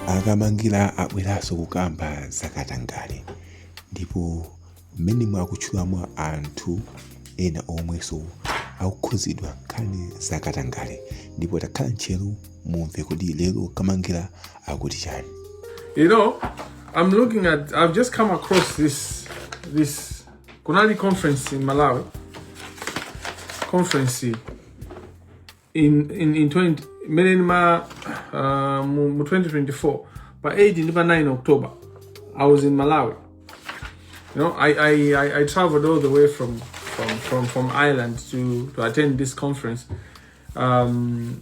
akamangila abweranso kukamba zakatangale ndipo mmenemo akutchulamo anthu ena omwenso akukhuzidwa nkhani zakatangale ndipo takhalani ntcheru mumve kodi lero kamangila akuti chani You know, I'm looking at. I've just come across this this kunali conference in malawi conference iyi in, in, in 20, imene ma uh, mu, mu 2024 pa 8 ndi pa 9 october i was in malawi you know i, I, I, I traveled all the way from, from, from, from ireland to, to attend this conference um,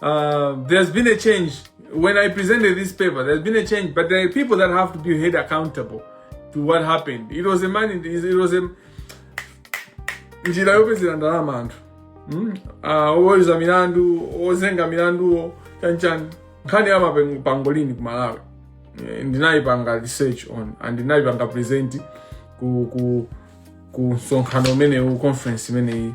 Uh, there's been a change. When I presented this paper, there's been a change, but there are people that have to be held accountable to what happened. It was a mon-, in, it was a... njira yopezera ndalama anthu hmm? ah, oweruza milandu ozenga milanduwo chanichani nkhani ya mapangolini ku malawi eh, ndinayipanga research on and ndinayipanga present ku, ku, ku msonkhano umenewu conference imeneyi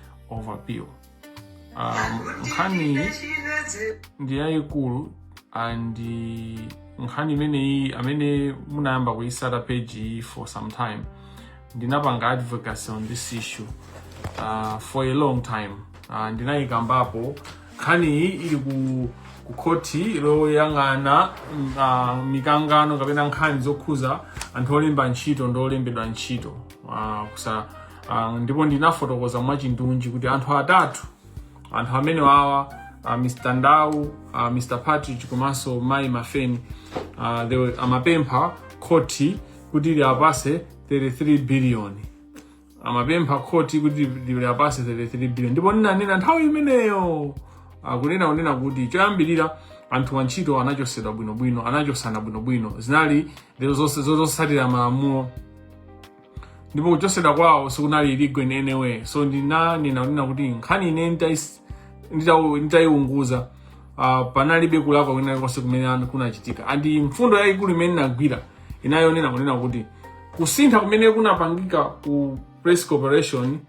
overview um, nkhani ndi yayikulu and nkhani imeneyi amene munayamba kuyisata page iyi for some time ndinapanga advocacy on this issue uh, for a long time uh, ndinayikambapo nkhani iyi ili ku ku khothi loyang'ana mm, ah, mikangano kapena nkhani zokhuza anthu olemba ntchito ndi olembedwa ntchito ah, kusa Uh, ndipo ndinafotokoza mwachindunji kuti anthu atatu anthu amenewawa uh, ah, Mr. Ndau uh, ah, Mr. Partridge komanso Mai Mafeni uh, they amapempha khoti kuti liapase 33 billion amapempha khoti kuti liapase 33 billion ndipo ndinanena nthawi imeneyo kunena kunena kuti choyambirira anthu antchito anachosedwa bwinobwino anachosana bwinobwino zinali zosatira malamulo ndipo kuchotsedwa kwawo sikunali illegal in any way so ndinanena kunena kuti nkhani ine nditais- nditau- nditaiunguza ah, panalibe kulakwa kwina konse kumene ana- kunachitika and mfundo yayikulu imene inagwira inayonena kunena kuti kusintha kumene kunapangika ku press corporation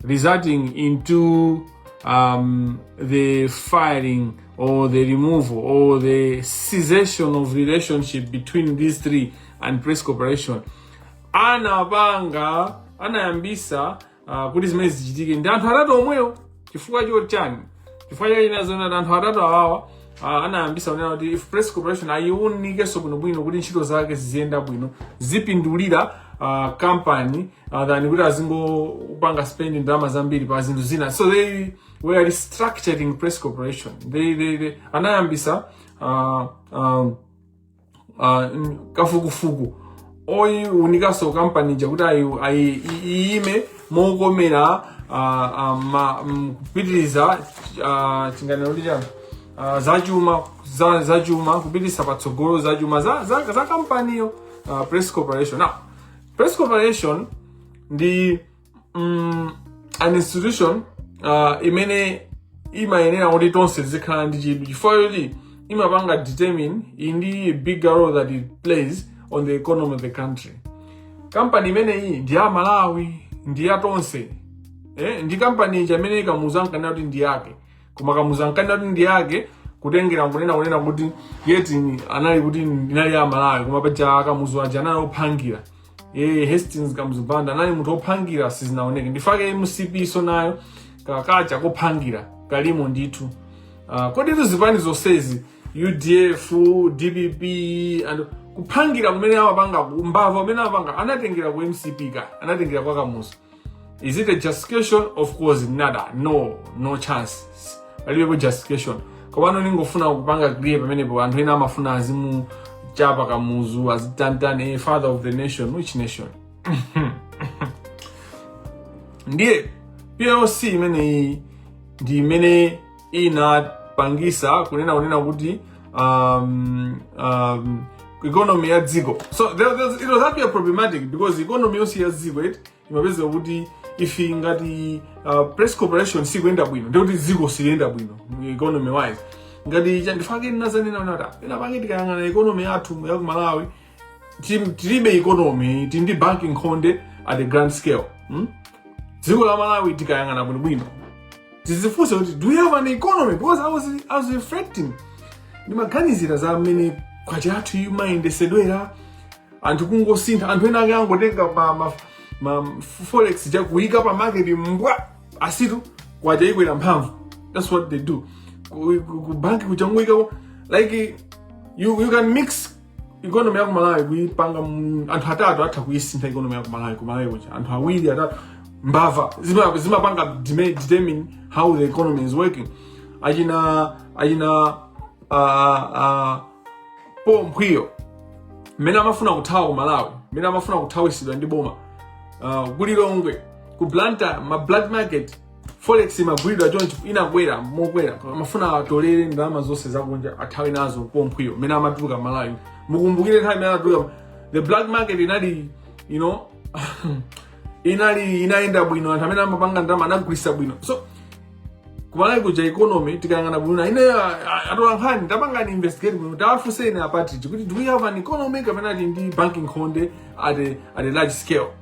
resulting into um, the firing or the removal or the cessation of relationship between these three and press corporation ana apanga anayambisa uh, kuti zimene zichitike ndi anthu atatu omwewo chifukwa chotani chifukwa chayi nazo ndi anthu atatu awawa uh, anayambisa kunena kuti ife press corporation ayiunikenso bwinobwino kuti ntchito zake ziziyenda bwino zipindulira uh, company uh, than kuti azingopanga spend ndalama zambiri pa zinthu zina so they were restructuring press corporation they, they, they anayambisa uh, um, uh, kafukufuku oyiwunikanso kampani ija kuti ayi- ayi- i- iyime mokomera ah, ah, ma- mm, kupitiriza ah, chiganizo ndi chani Ah, zachuma za- zachuma kupitiriza patsogolo zachuma za, za, za kampaniyo ah, press corporation now press corporation ndi mm, an institution uh, imene imayenera kuti tonse tizikhala ndi chidwi chifukwa choti imapanga determine iyi ndi bigger role that it plays on the economy of the country kampani imeneyi ndi ya malawi ndi ya tonse eh, ndi kampani ija imene kamuzu ankanena kuti ndi yake koma kamuzu ankanena kuti ndi yake kutengera kunena kunena kuti eti anali kuti inali ya malawi koma paja kamuzu aja anali ophangira e hastings kamuzu banda anali munthu ophangira sizinaoneke ndichifukwa chake mcp-so nayo kakhalidwe kophangira kalimo ndithu uh, kodi izi zipani zonsezi udf dpp and kuphangira kumene amapanga mbava kumene amapanga anatengera ku mcp ka anatengera kwa kamuzu Is it a justification? Of course, not. No, no chance. Palibepo justification. Komano ningofuna kupanga clear pamenepo anthu ena amafuna azimuchapa kamuzu azimutani eh, father of the nation which nation ndiye PCL imeneyi ndi imene inapangisa kunena kunena kuti um, um, economy ya dziko so there, there, it was actually problematic because economy yonse ya dziko eti imapezeka kuti if ngati uh, press corporation sikuyenda bwino ndikuti dziko siliyenda bwino economy wise ngati cha ndi chifukwa chake ndinazanena unata ena pange tikayang'ana economy yathu ya ku malawi Tim- tilibe economy tili ndi banki nkhonde at the grand scale hmm? dziko la malawi tikayang'ana bwinobwino tidzifunse kuti do we have an economy because i was, I was reflecting ndimaganizira za mmene kwacha yathu imayendesedwera anthu kungosintha anthu ena ake angotenga ma, ma, ma forex nkukayika pa market mbwa basi tu kwacha yakwera mphamvu that's what they do ku, ku, ku banki kuchangoyikako like you, you can mix ikonomi ya ku malawi kuipanga mu- anthu atatu atha kuisintha ikonomi ya ku malawi ku malawi kuja anthu awiri atatu mbava zima- zimapanga deme- determine how the economy is working achina achina uh, uh, paul mphwiyo mmene amafuna kuthawa ku malawi mmene amafuna kuthawisidwa ndi boma uh, kulilongwe ku blanta ma black market forex imagulidwa chonchi inakwera mokwera amafuna atolere ndalama zonse zakunja athawe nazo pomphwiyo mmene amatuluka malawi mukumbukire nthawi imene anatuluka the black market inali you know inali inayenda bwino anthu amene amapanga ndalama anagulisa bwino so kumalawi kuja economy tikayang'ana bwino ine atolankhani tapangani investigate bwino tawafunseni a Partridge kuti do we have an economy kapena ati ndi banki nkhonde at a, at a large scale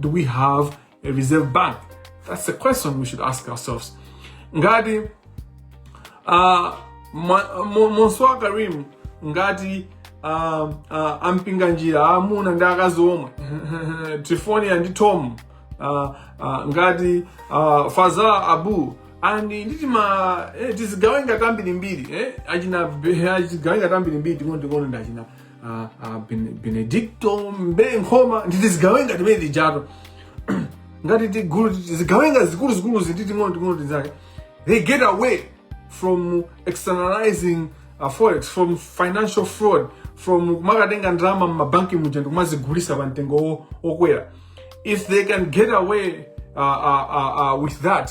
Do we have a reserve bank? That's the question we should ask ourselves. Ngati uh, Monsoa Karim, ngati uh, uh, a Mpinganjira amuna ndi akazi omwe Triphonia ndi Tom uh, uh, ngati uh, Fazala Abu and ndi ti- eh, tizigawenga tambirimbiri eh, achina tizigawenga tambirimbiri ting'onoting'ono ndi achina a, a Bene- benedicto mbewe nkhoma ndi tizigawenga timene tija to ngati tigulu tizigawenga zikuluzikuluzi ndi ting'onoting'ono tinzake they get away from externalizing uh, forex from financial fraud from kumakatenga ndalama mmabanki muja ndikumazigulisa pa mtengo wo- wokwera if they can get away uh, uh, uh, uh, with that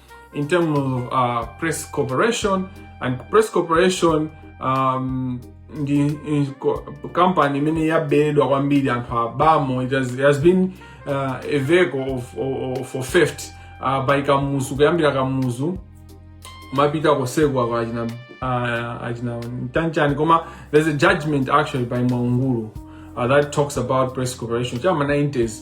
in terms of uh, press corporation and press corporation um, ndi ndi co- company imene yabedwa kwambiri anthu abamo it has, it has been uh, a vehicle of, of, of, for theft uh, by kamuzu kuyambira kamuzu kumapita kosekula kwa achina uh, achina ntchanchani koma there's a judgment actually by mwaungulu uh, that talks about press corporation chama 90s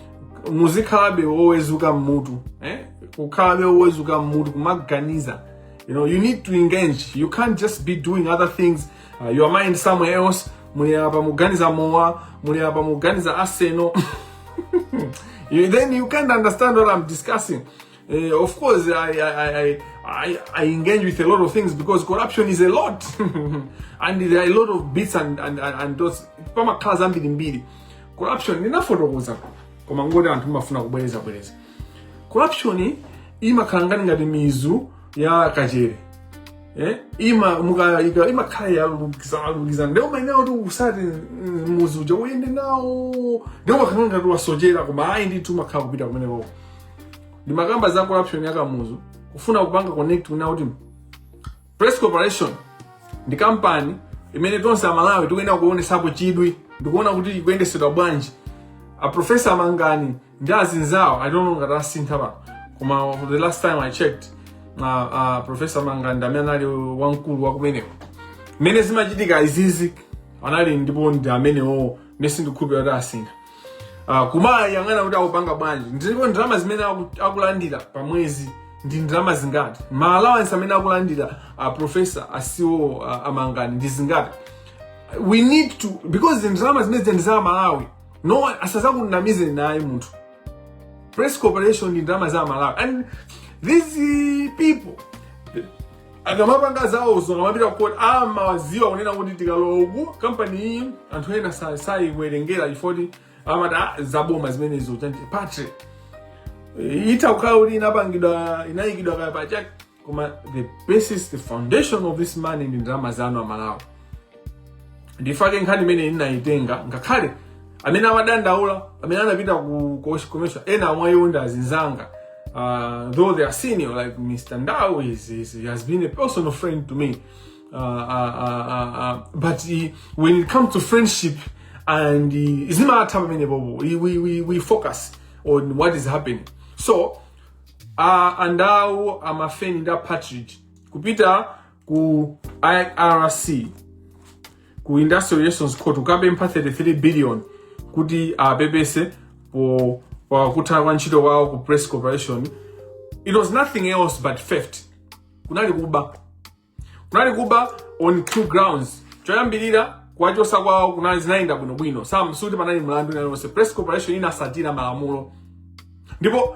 muzikhalabe wowezuka mmutu eh? ukhalabe wowezuka mmutu kumaganiza you know you need to engage you can't just be doing other things uh, your mind somewhere else muli apa muganiza mowa muli apa muganiza aseno then you can't understand what i'm discussing Uh, of course, I, I, I, I, I engage with a lot of things because corruption is a lot. and there are a lot of bits and, and, and, and dots. Pamakhala zambirimbiri. Corruption, ndinafotokoza koma ngoti anthu mumafuna kubwerezabwereza. Corruption imakhala ngati ngati mizu ya kachere. Eh? Ima, muka, ika, imakhala yolukizana. Ndiye umayenera kuti utsate mm, muzu uja uyende nawo. Ndiye umakhala ngati wasochera koma ayi ndithu umakhala ukupita kumeneko. ndimakamba za corruption ya kamuzu kufuna kupanga connect kunena kuti press corporation ndi kampani imene tonse amalawi tikuyenera kuonesapo chidwi ndikuona kuti ikuyendetsedwa bwanji aprofesa mangani ndi azinzawo i don't know ngati asintha pano koma the last time i checked uh, uh, profesa mangani ndi amene anali wamkulu wakumeneko mmene zimachitika izizi analipo ndipo ndi amenewo mmene sindikukhulupira kuti asintha uh, kumayang'ana kuti akupanga bwanji ndipo ndalama zimene aku- akulandira pa mwezi ndi ndalama zingati ma allowance amene akulandira a profesa asiwo uh, amangani ndi zingati we need to because ndalama zimene zija ndi za amalawi no one- asazakunamizeni ayi munthu press corporation ndi ndalama za amalawi and these people akamapanga zawozo akamapita ku court amawadziwa kunena kuti tikalowa uku kampani iyi anthu ena sa- sayiwerengera chifoti amati "Ah, zaboma zimenezo chanti patre itha kukhala kuti inapangidwa inayikidwa kaya pachake koma the basis the foundation of this money ndi ndalama zanu amalawi ndifake nkhani imene ndinayitenga ngakhale amene amadandaula amene anapita ku ku- commission ena mwa iwo ndi azinzanga uh, though they are senior like mr ndau is, is, he has been a personal friend to me uh, uh, uh, uh, uh, but he, when it comes to friendship and uh, zimatha pamene popo we, we, we, we focus on what is happening so uh, a ndau a mafeni ndi a partridge kupita ku irc ku industrial relations court kukapempha 33 billion kuti apepese po pakutha kwa ntchito kwawo ku press corporation it was nothing else but theft kunali kuba kunali kuba on two grounds choyambirira kuwachosa kwawo kunali zinayenda bwinobwino sam sikuti panali mlandu wina ulionse press corporation inasatira malamulo ndipo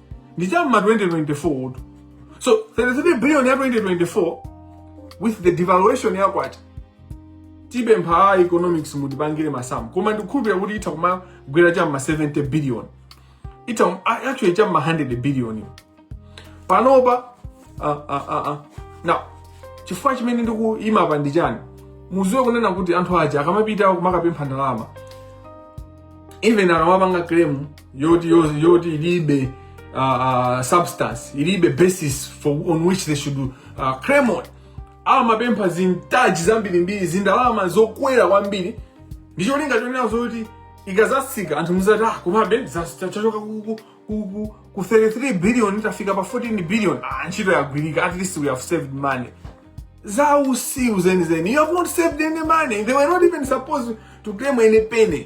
ndi cha mma 2024 utu so 33 billion ya 2024 with the devaluation ya kwacha tipempha a economics mutipangire masamu koma ndikukhulupirira kuti itha kumagwera cha mma 70 billion itha kum- a- actually cha mma 100 billion panopa ah, ah, ah, ah. now chifukwa chimene ndikuyima apa ndi chani muziwe kunena kuti anthu aja akamapita kumakapempha ndalama even akamapanga claim yoti yoti yoti ilibe uh, uh, substance ilibe basis for on which they should uh, claim on amapempha zintaji zambirimbiri zindalama zokwera kwambiri ndi cholinga chonena zoti ikazasika anthu muzati ah komabe zas- cha- chachoka ku- ku- ku- ku- ku 33 billion tafika pa 14 billion ah ntchito yagwirika at least we have saved money zausiru zenizeni you have not saved any money they were not even supposed to claim any penny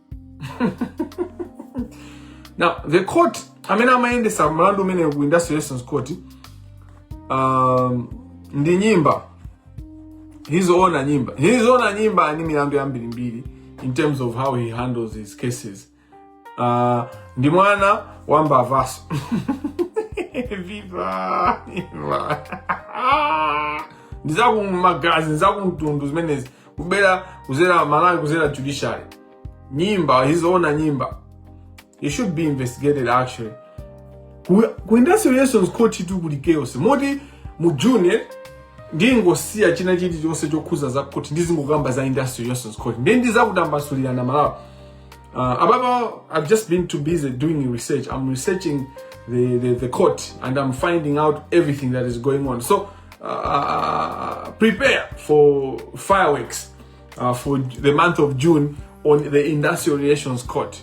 now the court amene amayendesa mlandu umene ku industrial relations court um, ndi nyimba his honour nyimba his honour nyimba ali ndi milandu yambirimbiri in terms of how he handles his cases uh, ndi mwana wa mbavaso viva viva ndizakumagazi ndizakumtundu zimenezi kubera kuzera amalawi kuzera judiciary nyimba his honour nyimba he should be investigated actually ku, ku industrial relations court tu kuli chaos moti mu june ndingosiya china chilichonse chokhuza za court ndizingokamba za industrial relations court ndiye ndizakutambasulirani amalawi uh, apapa i've just been too busy doing research i'm researching the, the, the court and i'm finding out everything that is going on so uh, uh, prepare for fireworks uh, for the month of June on the industrial relations court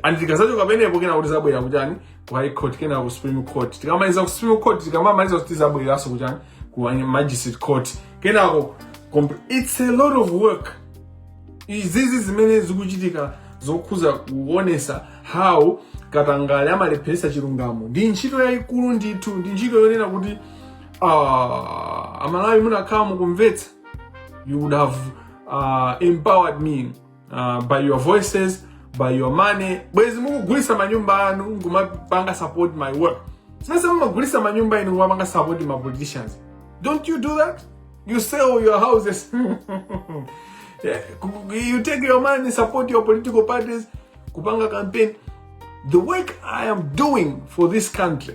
and tikazachoka penepo kenako tizabwera kujani ku high court kena ku supreme court tikamaliza ku supreme court tikamamaliza uko tizabwereranso kujani ku magistrate court kenako it's a lot of work izizi zimene zikuchitika zokhuza kuonesa how katangale amalepheresa chilungamo ndi ntchito yayikulu ndithu ndi ntchito yonena kuti ah, amalawi munakhala mukumvetsa you would have uh, empowered me uh, by your voices by your money bwezi mukugulisa manyumba anu ngumapanga support my work sasa mumagulisa manyumba inu ngumapanga support ma politicians don't you do that you sell your houses yeah. you take your money support your political parties kupanga campaign the work i am doing for this country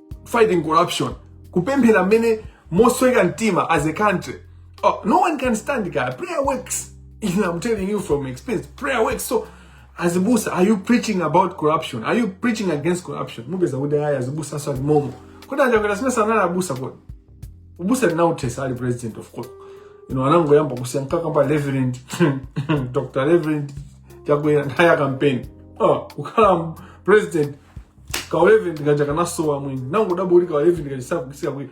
fighting corruption kupemphera mmene mosweka mtima as a country oh, no one can stand guy prayer works and i'm telling you from experience prayer works so azibusa are you preaching about corruption are you preaching against corruption mupeza kuti ayi azibusanso ali momo kodi achakwera sina sanali abusa kodi ubusa anauthesa ali president of course you know anangoyamba kusiya ankakamba reverend dr reverend chakwera nthawi ya campaign oh, kukhala president kareverend kaja kanasowa mwini nangodabwa kuti kareverend kaja sakukisika kuti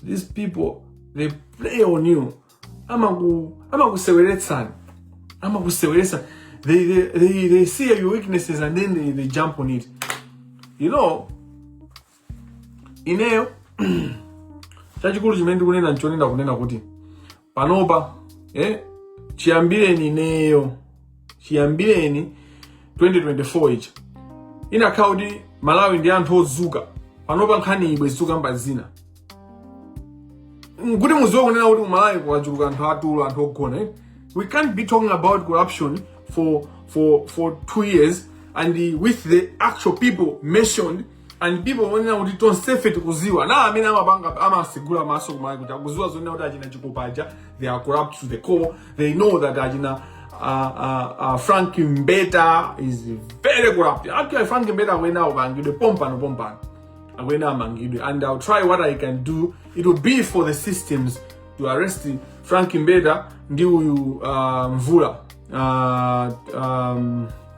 these people they play on you amaku amakuseweretsani amakuseweretsani they, they, they, they see your weaknesses and then they, they jump on it you know ineyo chachikulu chimene ndikunena nchonena kunena kuti panopa eh, chiyambireni ineyo chiyambireni 2024 ichi inakhala kuti amalawi ndi anthu ozuka panopa nkhaniyi bwezi tikukamba zina Mm, kuti muziwe kunena kuti kumalawi kwachuluka anthu atulo anthu ogona eh? we can't be talking about corruption for, for, for two years and with the actual people mentioned and people onena kuti tonsefe tikuziwa na amene amapanga amasegula maso kumai kuti akuziwa zonena kuti achina chikopa aja they are corrupt to the core they know that achina uh, uh, uh, frank mbeta is very corrupt actually frank mbeta akuyenera amangidwe pompano pompano akuyenera amangidwe and i'll try what i can do it will be for the systems to arrest frank mbeta ndi uyu uh, mvula uh, um,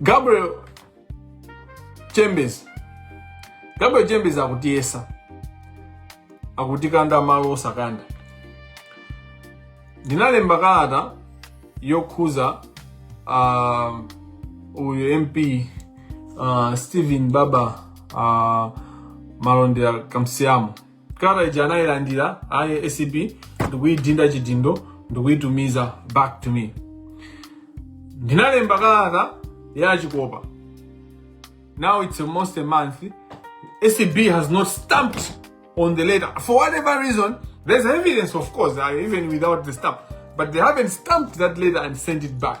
gabriel chembezi gabriel chembezi akutiyesa akutikanda malo osakanda ndinalemba kalata yokhuza uh, uyu mp uh, stephen baba uh, malondera kamsiyamo kalata ija anayilandira ayi acp ndikuyidinda chidindo ndikuyitumiza back to me ndinalemba kalata ya chikopa now it's almost a month acb has not stamped on the letter for whatever reason there's evidence of course uh, even without the stamp but they haven't stamped that letter and sent it back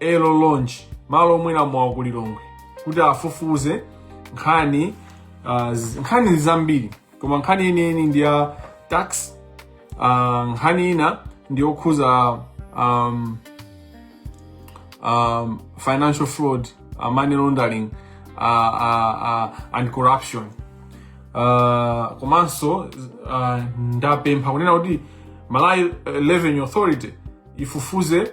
aero lounge malo omwera mowa ku lilongwe kuti afufuze nkhani uh, z- nkhani ndi zambiri koma nkhani yeniyeni ndi ya tax uh, nkhani ina ndi yokhuza um, um, financial fraud uh, money laundering uh, uh, uh, and corruption uh, komanso uh, ndapempha kunena kuti malawi eh, revenue authority ifufuze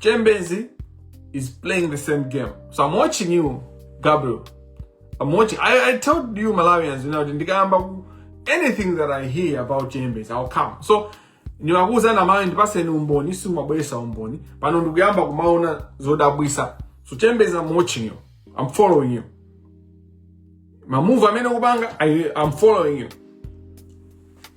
Chembezi is playing the same game. So I'm watching you, Gabriel. I'm watching. I, I told you Malawians, you know, ndikayamba anything that I hear about Chembezi, I'll come. So ndimakuuzani aMalawi ndipaseni umboni simumabweresa umboni pano ndikuyamba kumaona zodabwisa so chembezi i'm watching you i'm following you mamuvu amene ukupanga I- i'm following you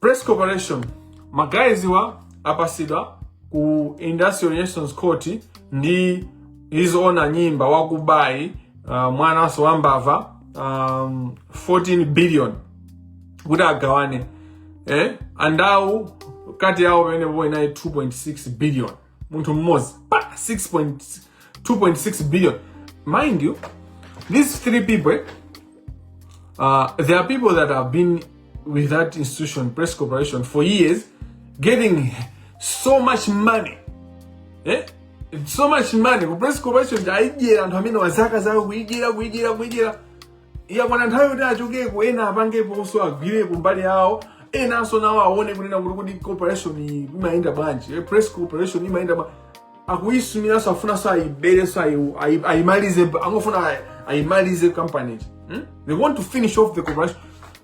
Press Corporation ma guys awa apasidwa ku Industrial Relations Court ndi His Honour Nyimba wakubayi uh, mwananso wa mbava um, 14 billion kuti agawane eh? a Ndau cut yawo pamenepopo inali 2.6 billion munthu mmodzi pa 6.2.6 billion mind you these three people uh, there are people that have been with that institution press corporation for years getting so much money eh? so much money ku press corporation aijera anthu amene wazaka zawo kuijera kuijera kuijera yakwana nthawi yoti achokeko ena apangeponso agwireko mbali yawo enanso nawo aone kunena kuti kuti corporation iyi imayenda bwanji eh, press corporation imayenda bwanji akuyisumiranso afunanso ayiberenso ayi- ayi- ayimalize angofuna ayi- ayimalize company hmm? they want to finish off the corporation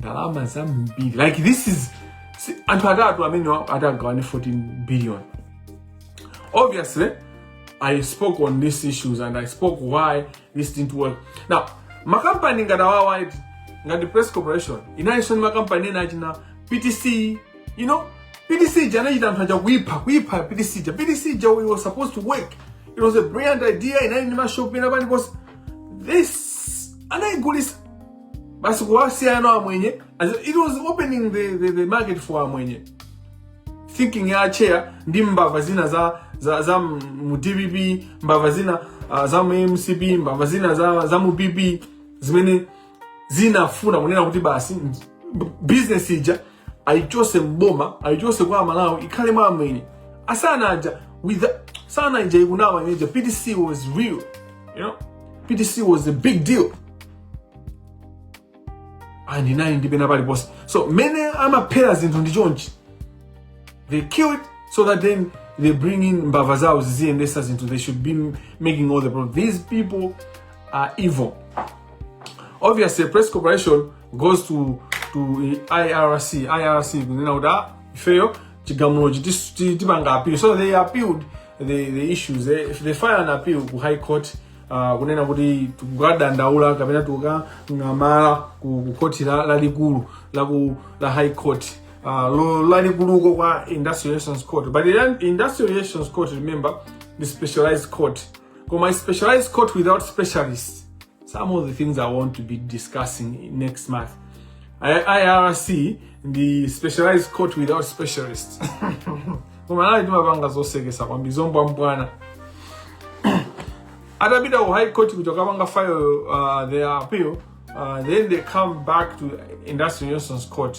ndalama zambiri like this is si- anthu atatu amene wa- atagawane 14 billion obviously i spoke on these issues and i spoke why this didn't work now makampani ngati awawa eti ngati press corporation inalinso ndi makampani ena achina ptc you know ptc ija anachita anthu aja kuipha kuipha ptc ija ptc ija it was supposed to work it was a brilliant idea inali ndi mashop pena paliponse this anayigulisa basi kuwasiya na amwenye as in, it was opening the, the, the market for amwenye thinking ya chair ndi mbava zina za za, za mu dpp mbava zina uh, za mu mcp mbava zina za, za mu pp zimene zinafuna kunena kuti basi business ija ayichose m'boma ayichose kwa aMalawi ikhale mwa amwenye a Sana aja with the, Sana ija ikunama ineja ptc was real you know ptc was a big deal and inali ndi pena paliponse so mene amaphera zinthu ndi chonchi they kill it so that then they bring in mbava zawo ziziyendesa zinthu they should be m- making all the problems these people are evil obviously press corporation goes to to IRC IRC kunena kuti ah ifeyo chigamulochi tis- ti- tipanga appeal so they appealed the, the issues they, they file an appeal ku high court uh, kunena kuti tikukadandaula kapena tikukang'amala ku, ku khoti la- lalikulu la, ku- la high court uh, lo- lalikuluko kwa industrial relations court but the industrial relations court remember the specialized court koma specialized court without specialists some of the things I want to be discussing next month. IRC, the specialized court without specialists. kumalawi timapanga zosekesa kwambiri zombwambwana atapita ku high court kuti akapanga file uh, their appeal uh, then they come back to industrial relations court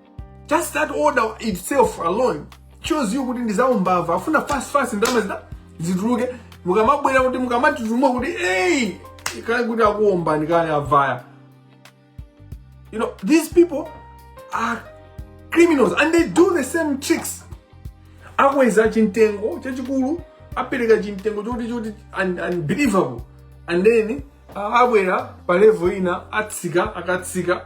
just that order itself alone shows you kuti ndizaumbava afuna fast fast ndalama zituluke mukamabwera kuti mukamatutumuka kuti eyi kale kuti akuombani kale avaya you know these people are criminals and they do the same tricks akweza chintengo chachikulu apereka chintengo choti choti un- unbelievable and then ah, abwera pa level ina atsika akatsika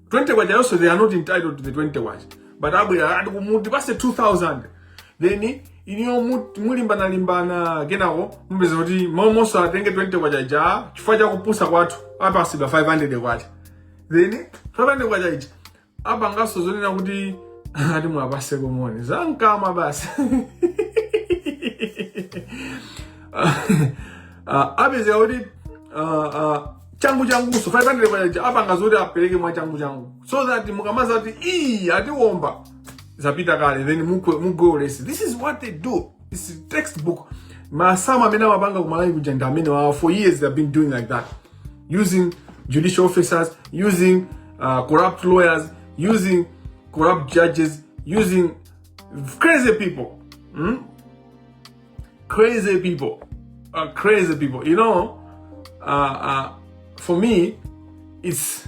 20 kwacha yonse they are not entitled to the 20 kwacha but abwera ati timupatse 2000 then inuyo mu- mulimbanalimbana kenako mupeza kuti momwemonso atenge 20 kwacha ija chifukwa cha kupusa kwathu apatsidwa 500 kwacha then 500 kwacha ija apanganso zonena kuti ati muwapatse koma ndi zamkama basi uh, apezeka kuti uh, uh, changu changuso 500 kwacha apanga zoti apereke mwa changu changu so that mukamadza kuti ii atiomba zapita kale then mugwe mugwe ulesi this is what they do this is textbook masamu amene amapanga kumalawi kuja anthu amenewawa for years they have been doing like that using judicial officers using uh, corrupt lawyers using corrupt judges using crazy people mm? Crazy people. Uh, crazy people. You know, uh, uh, for me, it's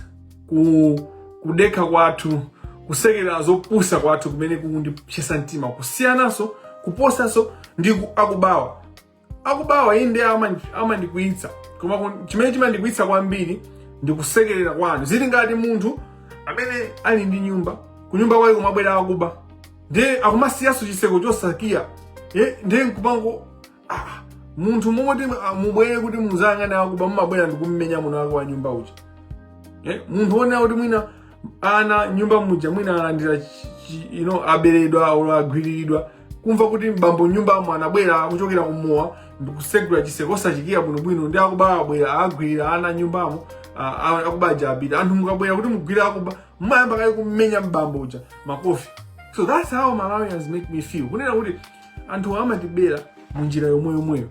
ku, kudekha kwathu kusekerera zopusa kwathu kumene kukundipsetsa mtima kusiyananso kuposanso ndi akubawa akubawa ii nde amandikwiyitsa koma chimene chimandikwiyitsa kwambiri ndi kusekerera kwanu zili ngati munthu amene ali ndi nyumba kunyumba kwake kumabwera akuba ndiye akumasiyanso chiseko chosakiya eh, ndiye nkumango ah, munthu m'malo moti ah, mubwere kuti muzayang'ane akuba mumabwera ndikummenya mwini wake wa nyumba uja eh, munthu wonena kuti mwina ana m'nyumba muja mwina alandira chi- chi- you know, aberedwa olo agwiriridwa kumva kuti mbambo m'nyumbamo anabwera akuchokera kumowa ndikusegula chiseko osachikiya bwinobwino ndi akuba abwera agwirira ana m'nyumbamo ah, ah, akuba aja apita anthu mukamabwera kuti mugwire akuba mmayamba kaye kummenya mbambo uja makofi so that's how malawians make me feel kunena kuti anthu amatibera mu njira yomweyomweyo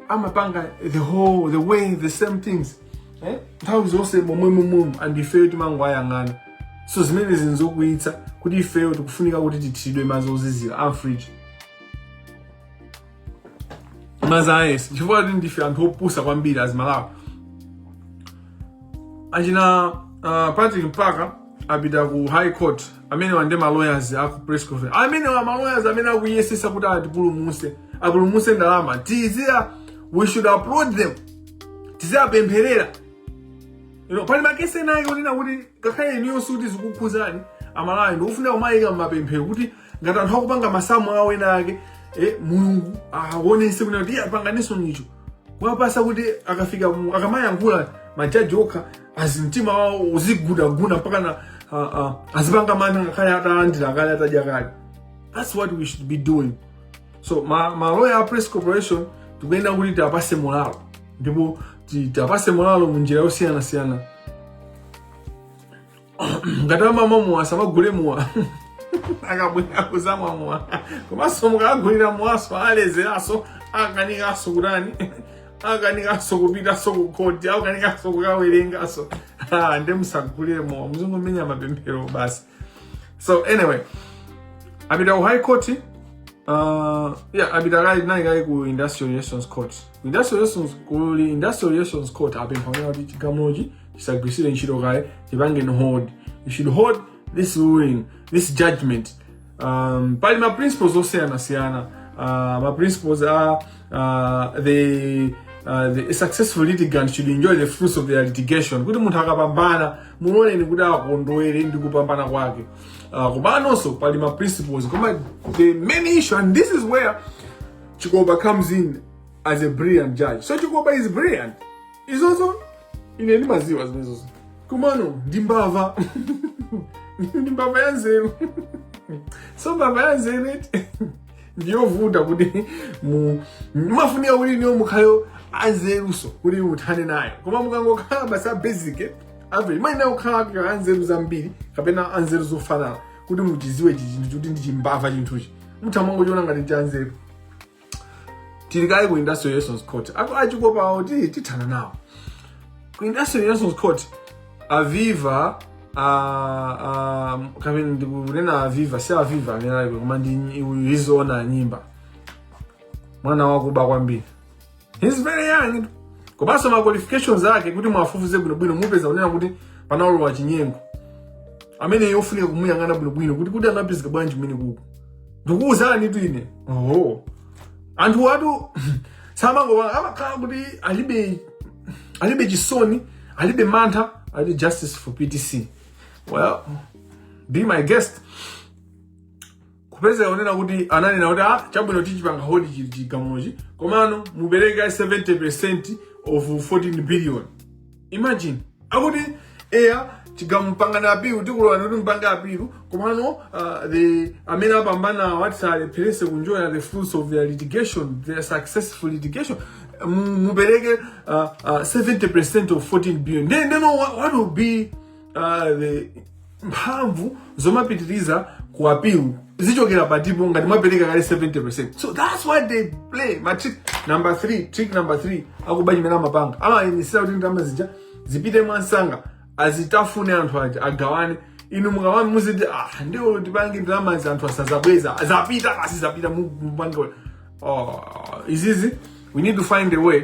amapanga the whole the way the same things eh? nthawi zonse momwemomwemo and ifeyo timangoayang'ana so zimenezi nzokwiyitsa kuti ifeyo tikufunika kuti tithiridwe madzi ozizira amfriji mumaziyesa chifukwa kuti ndife anthu opusa kwambiri as Malawi achina uh, patrick mpaka apita ku high court amenewa ndi maloyers aku press conference amenewa maloyers amene akuyesetsa kuti atipulumutse apulumutse ndalama zija we should applaud them tiziwapempherera you know, pali makesi enawo onena kuti ngakhale inuyo sikuti zikukukhudzani amalawi ndikufuna kumawayika mmapemphero kuti ngati anthu akupanga masamu awo ena ake eh, mulungu awonetsetse kunena kuti iye apanganenso nicho kuwapatsa kuti akafika mu- akamayankhula majaji okha azi mtima wawo uzigundagunda mpaka na ah, ah, azipanga mantha ngakhale atalandira kale atadya kale that's what we should be doing so ma, ma lawyer a press corporation tikuyenera kuti tiwapatse molalo ndipo ti- tiwapatse molalo mu njira yosiyanasiyana ngati amamwa mowa musamawagulire mowa akabwera kudzamwa mowa komanso mukawagulira mowanso alezeranso akanikanso kutani akanikanso kupitanso ku khoti akanikanso kukawerenganso Ah, nde musawagulire mowa muzingomenya mapemphero basi so anyway apita ku high court uh, yeah apita kaye nayo kaye ku industrial relations court industrial relations ku i- industrial relations court apempha kunena kuti chigamulochi chisagwiritsidwe ntchito kaye chipangeni hold you should hold this ruling this judgment um, pali ma principles osiyanasiyana uh, ma principles a uh, the Uh, the successful litigant should enjoy the fruits of their litigation kuti munthu akapambana muloleni kuti akondwere ndi kupambana kwake uh, komanso pali ma principles koma the main issue and this is where Chikopa comes in as a brilliant judge. So Chikopa is brilliant. Izozo ine ndimadziwa zimenezozo. Komano ndi mbava. Ndi mbava ya nzeru. So mbava ya nzeru eti. ndiyovuta kuti mumafunika kuti inuyo mukhale anzerunso kuti muthane nayo koma mukangokhala basi a basic eh, average muyenera kukhala anzeru zambiri kapena anzeru zofanana kuti muchidziwe chi chinthu choti ndi chimbava chinthuchi mutha kumangochiona ngati chanzeru tili kaye ku industrial relations court ako a Chikopa awo ti tithana nawo ku industrial relations court a Viva ah, ah, kapena ndikunena a Viva si a Viva amene aliko koma ndi nyi- uyu izoona nyimba mwana wakuba kwambiri he's very young komanso ma qualifications ake kuti muwafufuze bwinobwino mupeza kunena kuti panalowa chinyengo ameneyo ofunika kumuyang'ana bwinobwino kuti kuti anapezeka bwanji kumeneko ndikuwuzanitu ine oho anthuwatu samangomva amakhala kuti alibe alibe chisoni alibe mantha ali justice for ptc well be my guest kupezeka kunena kuti ananena kuti ah chabwino tichipanga hold chili chigamulochi komano mupereke 70% of 14 billion imagine akuti eya chigamulo mupanga apilu tikulolani kuti mupange apilu komano uh, the amene apambana asalephereso kunjoya the fruits of their litigation their successful litigation mu- mupereke uh, uh, 70% of 14 billion then, then what, what will be uh, the mphamvu zomapitiriza ku apilu zichokera patipo ngati mwapereka kale 70% so that's why they play ma trick number 3 trick number 3 akuba chimene amapanga amayenesera kuti ndalama zija zipite mwansanga azitafune anthu aja agawane inu mukabwera muziti ah ndiye tipange ndalama izi anthu asazabweza zapita basi zapita mupange oh, izizi we need to find a way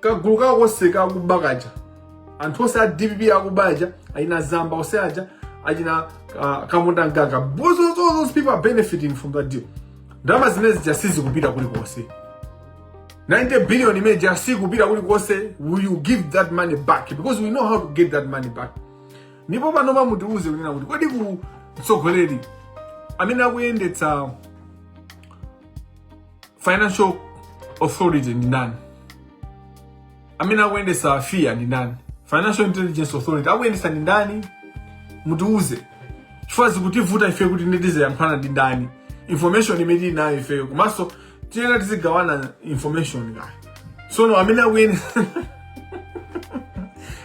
kagulu kawo konse kakuba kaja anthu onse a dpp akuba aja achina zamba onse aja achina uh, kamunda mgaga Those- those- those people are benefiting from that deal ndalama zimene zija sizikupita kulikonse 90 billion imene ija sikupita kulikonse will you give that money back because we know how to get that money back ndipo panopa mutiuze kunena kuti kodi ku mtsogoleri amene akuyendetsa financial authority ndi ndani amene akuyendesa fia ndi ndani financial intelligence authority akuyendesa ndi ndani mutiuze chifukwa zikutivuta ife kuti nde tiziyankhulana ndi ndani information imene tili nayo ifeyo komanso tiyenera tizigawana information kayo sono amene akuyene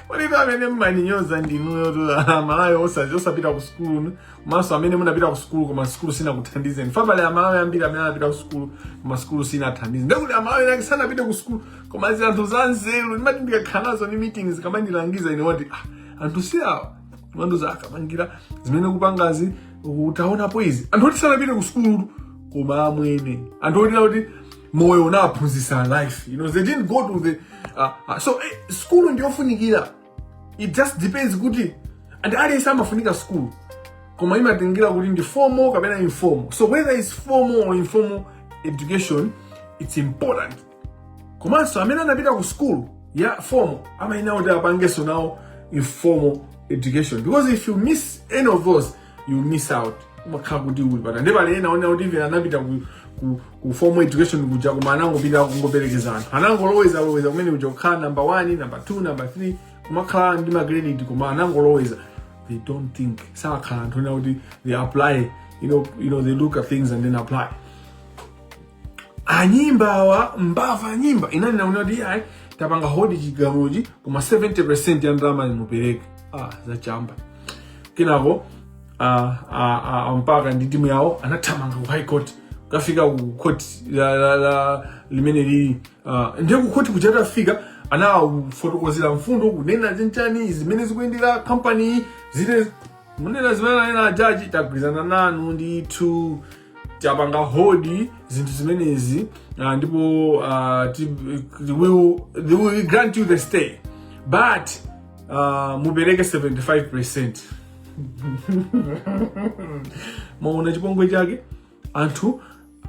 oneka amene mumandinyoza ndinuyo amalawi osazi osapita ku sukulu komanso amene munapita ku sukulu koma sukulu sinakuthandizeni fa pali amalawi ambiri amene anapita ku sukulu koma sukulu sinathandize ndekuti amalawi enake sanapite ku sukulu koma ndi anthu za nzeru ndimati ndikakhala nawo mu meetings kumandilangiza ine kuti ah, anthu si awa antuza kamangira zimene mukupangazi utaonapo izi anthu oti sanapite ku sukulu koma amwene anthu oti kuti moyo unawaphunzisa life you know they didn't go to the uh, uh, so eh, sukulu ndiyofunikira it just depends kuti and aliyense amafunika school koma imatengera kuti ndi formal kapena informal so whether it's formal or informal education it's important komanso amene anapita ku school ya formal amayenera kuti apangenso nawo informal education because if you miss any of those you miss out umakhala kuti uli but nde pali ena onena kuti even anapita ku, ku, ku formal education kuja koma anangopita kungoperekeza anthu anangoloweza loweza kumene kuja kukhala number 1 number 2 number 3 kumakhala ndi magrade koma anangoloweza they don't think sakhala anthu onena kuti they apply you know, you know they look at things and then apply anyimba awa mbava anyimba inani naona kuti ayi tapanga hodi chigamuchi koma 70 ya ndalamayi mupereke ah, zachamba kenako ah, ah, ah, mpaka ndi timu yawo anathamanga ku high court kukafika ku court la, la, la, limene lili ah, ndiye ku court kuja tafika anafotokozera mfundo kunena chenicheni zimene zikuyendera company ziti munena zimene anena ajaji tagwirizana nanu ndithu tapanga hold zinthu zimenezi uh, ndipo uh, ti, they will, they will grant you the stay but uh, mupereke 75 percent mwaona chipongwe chake anthu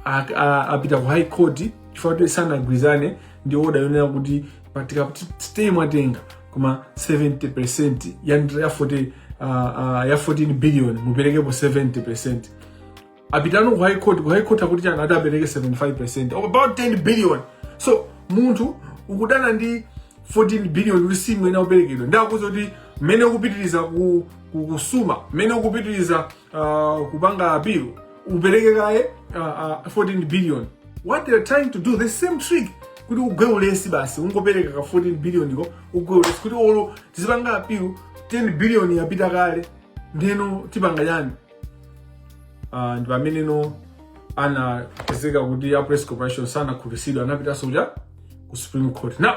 a- a- apita ku high court chifukwa kuti sanagwirizane ndi oda yonena kuti pati kuti stay mwatenga koma 70 percent ya ndira ya 40 uh, uh, ya 14 billion muperekepo 70 percent apitano ku high court ku high court akuti chani ati apereke 75 of about 10 billion so munthu ukudana ndi 14 billion kuti si imene akuperekedwa ndi akuza kuti mmene ukupitiliza ku- ku- kusuma mmene ukupitiriza ah, kupanga appeal upereke kaye ah, ah, 14 billion what they are trying to do the same trick kuti ugwe ulesi basi ungopereka ka 14 billion ko ugwe ulesi kuti olo tizipanga appeal 10 billion yapita kale ndeno tipanga chani uh, ndi pameneno anapezeka kuti a press corporation sanakhutitsidwa anapitanso kuja ku supreme court now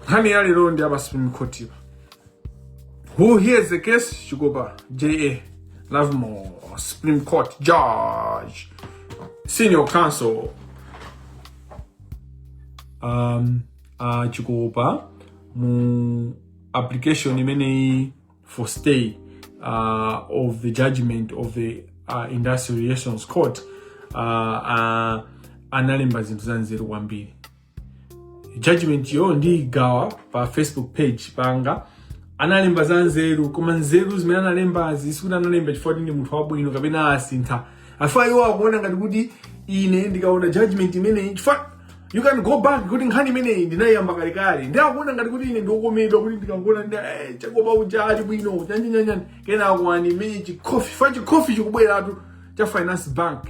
nkhani ya lero ndiye apa supreme court apa who hears the case chikopa ja lovemore supreme court judge senior counsel um, uh, chikopa mu application imeneyi for stay uh, of the judgment of the uh, industrial relations court uh, uh, analemba zinthu zanzeru kwambiri judgmentyo ndiyigawa pa facebook page panga analemba zanzeru koma nzeru zimene analembazi sikuti analemba chifukwa kuti ndi munthu wabwino kapena asintha afa iwo akuona ngati kuti ine ndikaona judgment imeneyi chifukwa you can go back kuti nkhani imeneyi ndinayiyamba kalekale ndi akuona ngati kuti ine ndiokomedwa kuti ndikangoona ndi eh, chikopa uja ali bwino chanjinyanjani kenako andimenye chikhofi fa chikhofi chikubweratu cha finance bank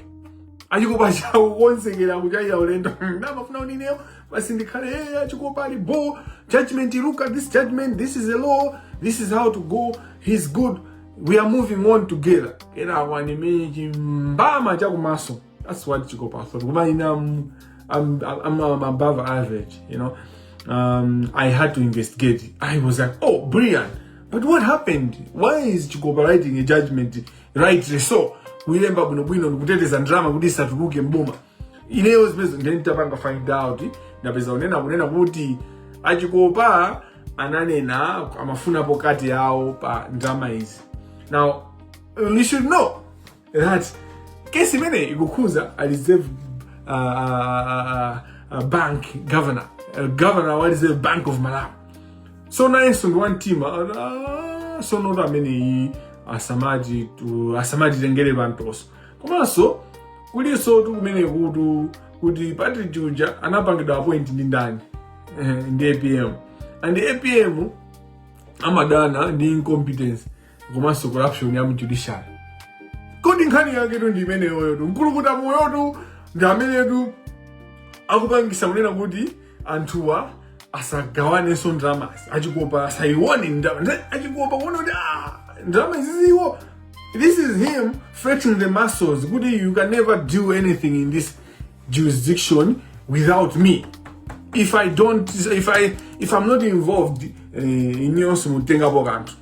achikopa chawo konsekera kuchayira ulendo nde amafuna kuti ineyo basi ndikhale hey, achikopa ali bo judgment look at this judgment this is the law this is how to go he's good we are moving on together kenako andimenye chimbama chakumaso that's what chikopa thought koma ine I'm, I'm, I'm, I'm above average you know um, i had to investigate i was like oh brian but what happened why is chikopa writing a judgment rightly so kuilemba bwinobwino ndikuteteza ndalama kuti isatuluke mboma ineyo zimenezi ndiye nditapanga find out ndapeza kunena kunena kuti achikopa ananena amafunapo cut yawo pa ndalama izi now you should know that case imeneyi ikukhuza a reserve uh, uh, uh, bank governor uh, governor wa reserve bank of malawi so nayenso ndi wamtima uh, so not ameneyi asamaji tu- asamatitengere pamtoso komanso kulinsotu kumene kutu kuti partridge uja anapangidwa appoint ndi ndani Eh, ndi apm and apm amadana ndi incompetence komanso corruption ya mjudiciary kodi nkhani yaketu ndi imeneyoyotu mkulukutamoyotu ndi amenetu akupangisa kunena kuti anthuwa asagawanenso ndalamazi achikopa asayione ndalama Nde- achikopa kuona kuti ah, ndalama iziziwo this is him flexing the muscles kuti you can never do anything in this jurisdiction without me if i don't if i if i'm not involved eh, inuyo simutengapo kanthu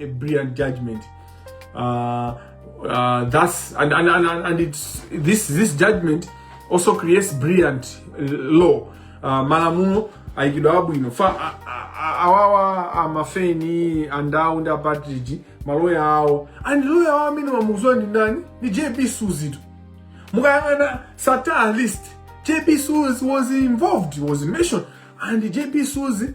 a brilliant judgment uh, uh, that's and and, and, and it's this this judgment also creates brilliant uh, law uh, malamulo ayikidwa abwino fa a- a- a- awawa amafeni andawu ndi apatridge maloya awo and loya awo amene mumamuziwa ndi ndani ndi jb suzitu mukayang'ana sattar list jb suzi was involved was mentioned and jb suzi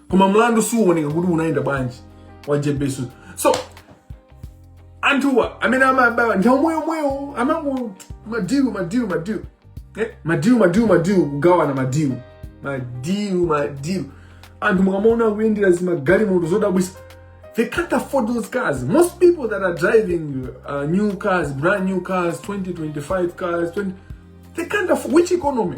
koma mlandu suwoneka kuti unayenda bwanji wa jb suzi so anthuwa amene amaba ndi omwe omwewo amango madilu madilu madilu eh? madilu madilu madilu kugawana madilu madilu madilu anthu mukamaona akuyendera zimagalimoto zodabwisa they can't afford those cars most people that are driving uh, new cars brand new cars 2025 cars 20 they can't afford which economy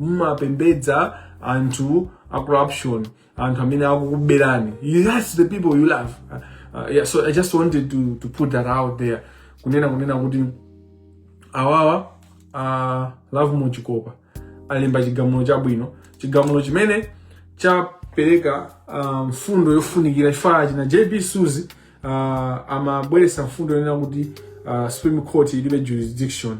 mumapembedza anthu a corruption anthu amene akukuberani You- that's the people you love uh, uh, yeah, so i just wanted to, to put that out there kunena kunena kuti awawa a lovemore chikopa alemba chigamulo chabwino chigamulo chimene chapereka ah, mfundo yofunikira chifukwa achina jb suzi uh, amabweretsa mfundo yonena kuti ah, supreme court ilibe jurisdiction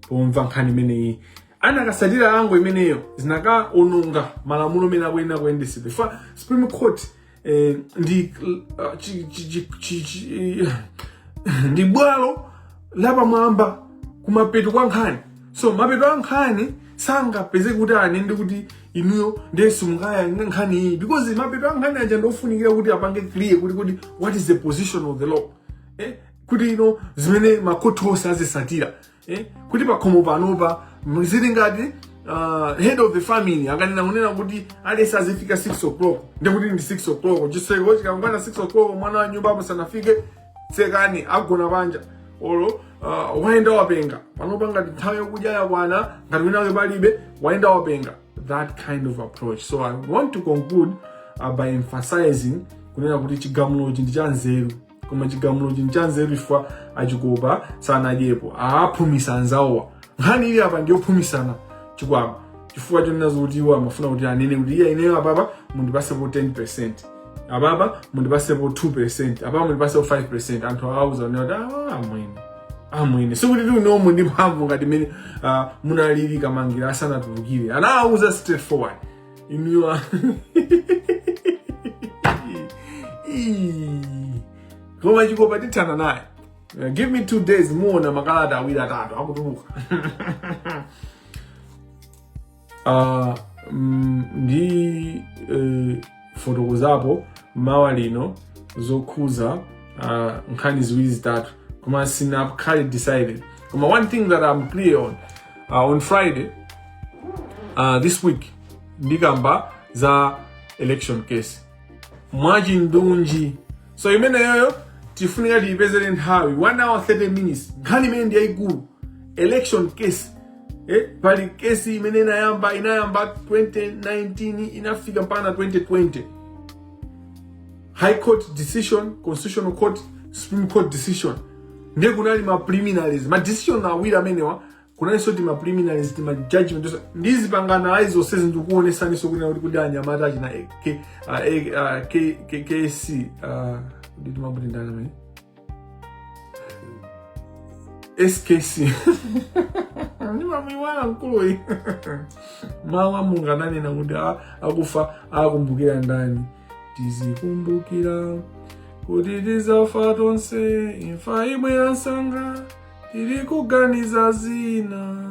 pomva nkhani imeneyi anakasatira angle imeneyo zinakaononga malamulo amene akuyenera kuyendesedwa fa supreme court eh, ndi uh, chi- chi- chi- chi- chi- ndi bwalo lapamwamba kumapeto kwa nkhani so mapeto a nkhani sangapeze kuti anene kuti inuyo nde simungamve nkhani iyi because mapeto a nkhani aja ndofunikira kuti apange clear kuti kuti what is the position of the law eh? kuti ino zimene makhoti onse azisatira eh, kuti pakhomo panopa mzili ngati uh, head of the family akanena kunena kuti aliyense azifika 6 o'clock ndiye kuti ndi 6 o'clock chitseko ikakwana 6 o'clock mwana wa nyumba muno asanafike tsekani agona panja olo uh, wayenda wapenga panopa ngati nthawi yokudya yakwana ngati winake palibe wayenda wapenga that kind of approach so i want to conclude uh, by emphasizing kunena kuti chigamulochi ndi cha nzeru koma chigamulochi nchanzeru chifukwa achikopa sanadyepo aphumitsa anzawowa nkhani ili apa ndi yophumitsana chikwama chifukwa chonena zoti iwo amafuna kuti anene kuti iya ineyo apapa mundipasepo 10 apapa mundipasepo 2 apapa mundipasepo 5 anthu awauza kuti ah, amwene amwene sikuti inuyo muli ndi mphamvu ngati mene ah, munalili Kamangila asanatulukire anawauza straightforward inuyo koma chikopa tithana naye Uh, give me two days muona makalata awiri atatu akutuluka Ah, mm, ndi- eh, ndifotokozapo mawa lino zokhuza ah, nkhani ziwiri zitatu koma sinakhale decided koma one thing that i'm clear on uh, on friday uh, this week ndikamba za election case mwachindunji so imeneyoyo tifunika tiyipezere nthawi 1 hour 30 minutes nkhani imene ndi yayikulu election case eh, pali case imene inayamba inayamba 2019 inafika mpaka na 2020 high court decision constitutional court supreme court decision ndiye kunali ma preliminaries ma decision awiri amenewa kunalinso ti ma preliminaries ti ma judgment ndizipanga analyze zonsezi ndikuonesaniso kunena kuti kuti anyamata achina A- K- ah, A- ah, K- K- ksc ah, nditi abuti ndani amene skc ndimamuiwala mkuluyi mawu a mulungu ananena kuti a- akufa akumbukira ndani tizikumbukila kuti tizafa tonse imfa imabwera msanga tili kuganiza zina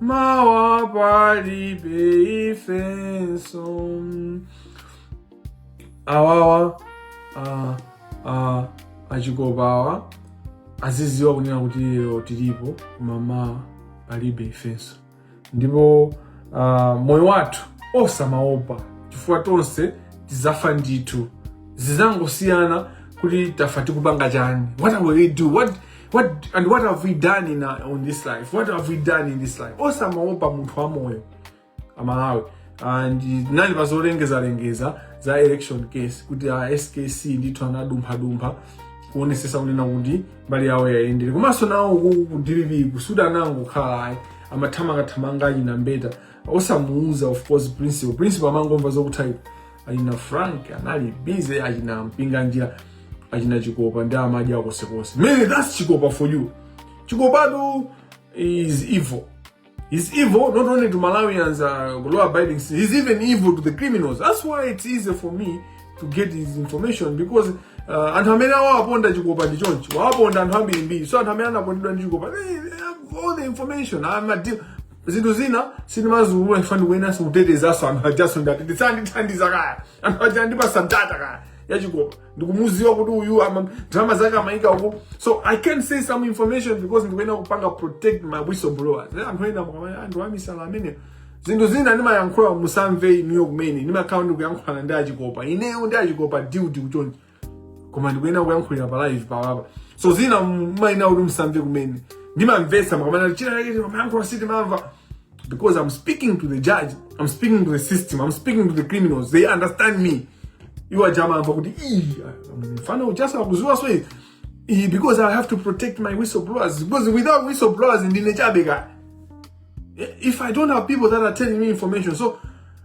mawa palibe ifenso awawa a- a- achikopa awa aziziwa kunena kuti lero tilipo mawa palibe ifenso ndipo ah, moyo wathu osamaopa chifukwa tonse tizafa ndithu zizangosiyana kuti tafa tikupanga chani what will we do what What, and what have we done in our, on this life? What have we done in this life? Osamaopa munthu wamoyo aMalawi and nali pazolengeza lengeza za election case kuti a SKC ndithu anadumphadumpha kuonesesa kunena kuti mbali yawo yayendere komanso nawo ku DPP sikuti anangokhala ayi amathamangathamanga achina Mbeta osamuuza of course principal principal amangomva zokuti ayi, achina Frank anali busy achina Mpinganjira achina Chikopa ndi amajaji akosekonse man that's Chikopa for you Chikopatu is evil He's evil not only to Malawians, uh, law abiding citizens, he's even evil to the criminals. That's why it's easy for me to get his information because uh, anthu amene wawaponda Chikopa ndi chonchi wawaponda anthu ambirimbiri so anthu amene anapondedwa ndi Chikopa they, they have all the information I'm a deal zinthu zina sindimaziulula chifukwa ndikuyeneranso kutetezanso anthu ajanso ndati azindithandiza kaya anthu aja andipasa data kaya ya Chikopa ndikumuziwa kuti uyu ma drama zake amayika uku so I can't say some information because ndikuyenera kupanga protect my whistleblowers Eh, anthu ena mukamanya anthu amisala ameneyo zinthu zina ndimayankhula musamve inuyo kumene ndimakhala ndikuyankhulana ndi a Chikopa ineyo ndi a Chikopa diuti kuchoncho koma ndikuyenera kuyankhulira pa live panopa so zina mumayenera kuti musamve kumene ndimamvetsa mukamanya china chake ndimayankhula sitimamva because I'm speaking to the judge I'm speaking to the system I'm speaking to the criminals they understand me iwo ajama amva kuti "Ih, mfana ujaso akuziwaso izi." Ih, because i have to protect my whistleblowers because without whistleblowers ndine chabe kaya if I don't have people that are telling me information, so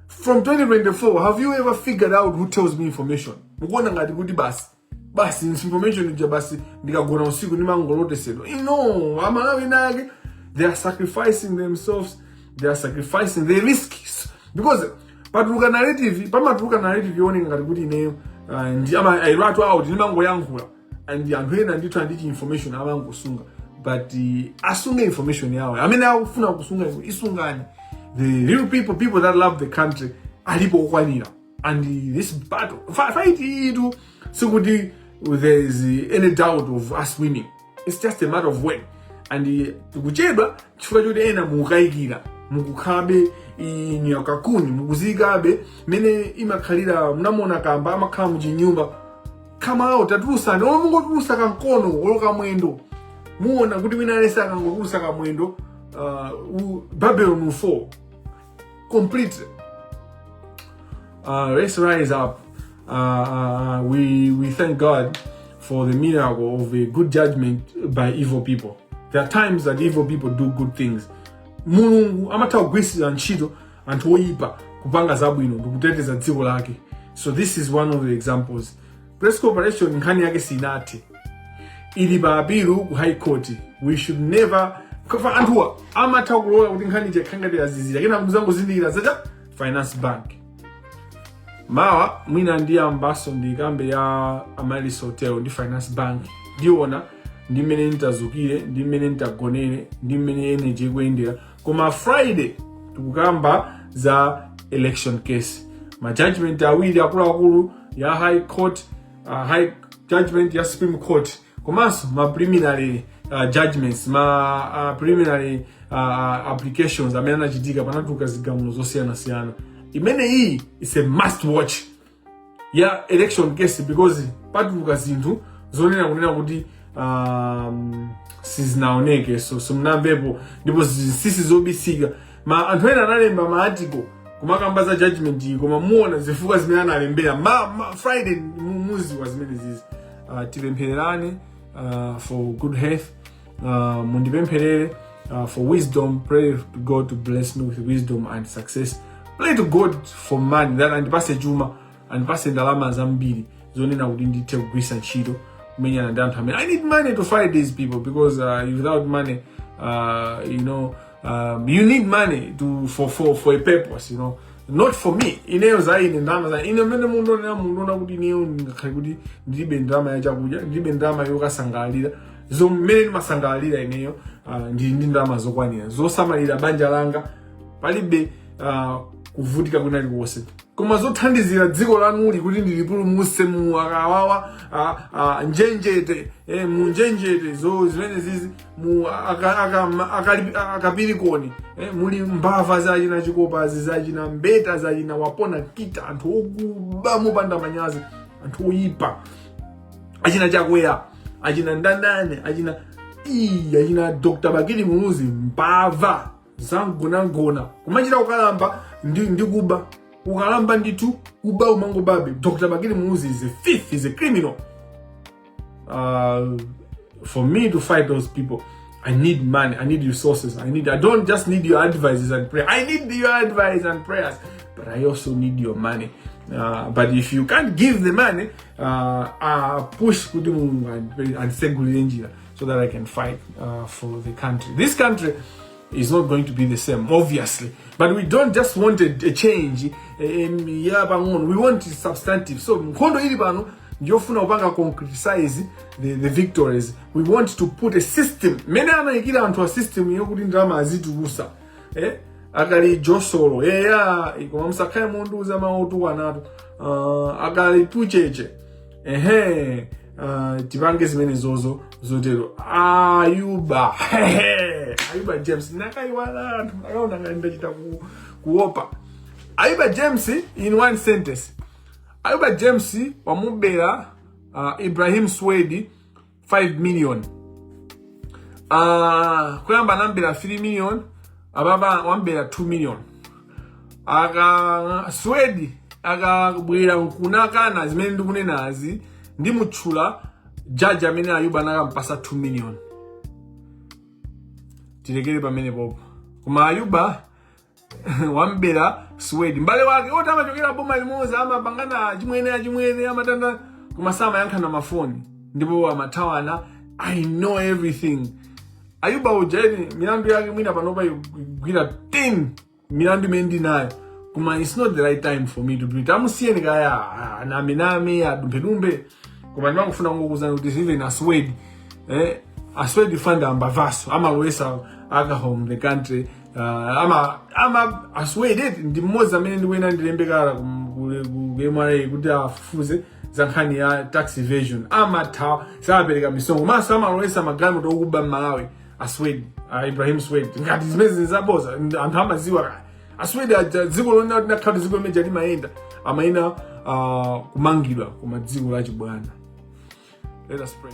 from 2024, have you ever figured out who tells me information? mukuona ngati kuti basi basi information ija basi ndikagona usiku ndimangolotesedwa no aMalawi enaake they are sacrificing themselves they are sacrificing the risk because patuluka narrative pamatuluka narrative yooneka ngati kuti ineyo uh, ndi ama I rat out ndimangoyankhula and anthu ena ndithu ali ndi chi information amangosunga but uh, asunge information yawo amene akufuna kusunga izo isungani the real people people that love the country alipo okwanira and this battle fight iyitu sikuti there is any doubt of us winning it's just a matter of when and tikuchedwa chifukwa choti ena mukukayikira mukukhalabe nyakakuni mukuziyikabe mene imakhalira munamona kamba amakhala muchinyumba kamao tatulusani olo mungotulusa kamkono olo kamwendo muona kuti wina aliyense akangotulusa kamwendo uh, u- Babylon fall completely. Uh, let's rise up. Uh, uh, we, we thank God for the miracle of a good judgment by evil people. There are times that evil people do good things. Mulungu amatha kugwiritsa ntchito anthu oyipa kupanga zabwino ndikuteteza dziko lake. So this is one of the examples. press corporation nkhani yake sinathe ili pa apilu ku high court we should never kaya anthuwa amatha kulola kuti nkhani ikhale ngati yazizira kena muzangozindikira yatha finance bank mawa mwina ndiyambaso ndikambe ya amaryllis hotel ndi finance bank ndiona ndi mmene nditadzukire ndi mmene nditagonere ndi mmene energy ikuyendera koma friday tikukamba za election case ma judgment awiri akuluakulu ya high court uh, high judgment ya supreme court komanso ma preliminary uh, judgments ma uh, preliminary uh, uh applications amene anachitika panatuluka zigamulo zosiyanasiyana imene iyi is a must watch ya election case because patuluka zinthu zonena kunena kuti um, sizinaoneke so simunamvepo ndipo zinsisi zobisika ma anthu ena analemba ma article kumakamba za judgment iyi koma muona zifukwa zimene analembera ma, ma friday mu- muziwa zimenezizi uh, tipemphererane uh, for good health uh, mundipempherere uh, for wisdom pray to god to bless me with wisdom and success pray to god for money that andipase chuma andipase ndalama zambiri zonena kuti ndithe kugwisa ntchito kumenyana ndi anthu amene i need money to fight these people because uh, without money uh, you know um, you need money to, for, for, for a purpose you know not for me ineyo za ine ndalama za ine mene mukundionera mundiona kuti ineyo sikuti ndilibe ndalama ya chakudya ndilibe ndalama yokasangalalira zo mmene ndimasangalalira ineyo uh, ndili ndi ndalama zokwanira zosamalira banja langa palibe uh, kuvutika kunali konse koma zothandizira dziko lanuli kuti ndilipulumuse mu akabawa a- a- njenjete eh, mu njenjete zo zimenezizi mu aka- aka- ma- akali- akapirikoni eh, muli mbava zachina chikopa zachina mbeta zachina wapona kita anthu okuba mopanda manyazi anthu oyipa achina chakwera achina ndandane achina ii achina dr bakili muluzi mbava zangonangona kumachita kukalamba ndi, ndi kuba ukalamba ndithu kuba umangobabe dr bakili muluzi is a thief is a criminal uh, for me to fight those people i need money i need resources i need i don't just need your advices and prayer i need your advice and prayers but i also need your money uh, but if you can't give the money uh, uh, push kuti mulungu andisegulire njira so that I can fight uh, for the country. This country is not going to be the same, obviously. But we don't just want a, a change. Eh, eh, we want substantive. So, nkhondo ili pano ndiyofuna kupanga concretize the, the victories we want to put a system mmene anayikira anthuwa system yokuti ndalama azitulusa eh? akali josolo eya eh koma musakhale mundiuza mawu otukwanatu uh, akali pucheche ehe uh, tipange zimenezozo zotero ayuba Hehe. ayuba james nakayiwala anthu akaona ngati ndachita ku- kuopa ayuba james in one sentence ayuba james wamubera uh, ibrahim swedi 5 million uh, kuyamba anamubera 3 million apapa wamubera 2 million aka swedi akabwera nkunakana zimene ndikunenazi ndimutchula jaji amene ayuba anakampasa 2 million tilekere pamenepopo koma ayuba wambera swedi mbale wake oti amachokera boma limodzi amapangana chimwene achimwene amatanda koma samayankhana mafoni ndipo amathawana i know everything ayuba uja eti milandu yake mwina panopa ikukwana 10 milandu imene ndinayo koma its not the right time for me to do it amusiyeni kaya anamename adumphedumphe koma ndimangofuna kungokuuzani kuti even aswed eh, aswed fanda ambavaso amalowesa alcohol in the country uh, ama ama aswed eti ndi mmodzi amene ndikuyenera ndilembe kalata ku- ku- ku ku mra kuti afufuze za nkhani ya tax evasion amathawa sapereka misonkho maso amalowesa magalimoto okuba mmalawi aswed uh, ibrahim swed ngati zimenezi zabodza anthu amaziwa kaya aswed aja dziko lonena kuti nakhala dziko limene limayenda amayenera uh, kumangidwa koma dziko lachibwana let us pray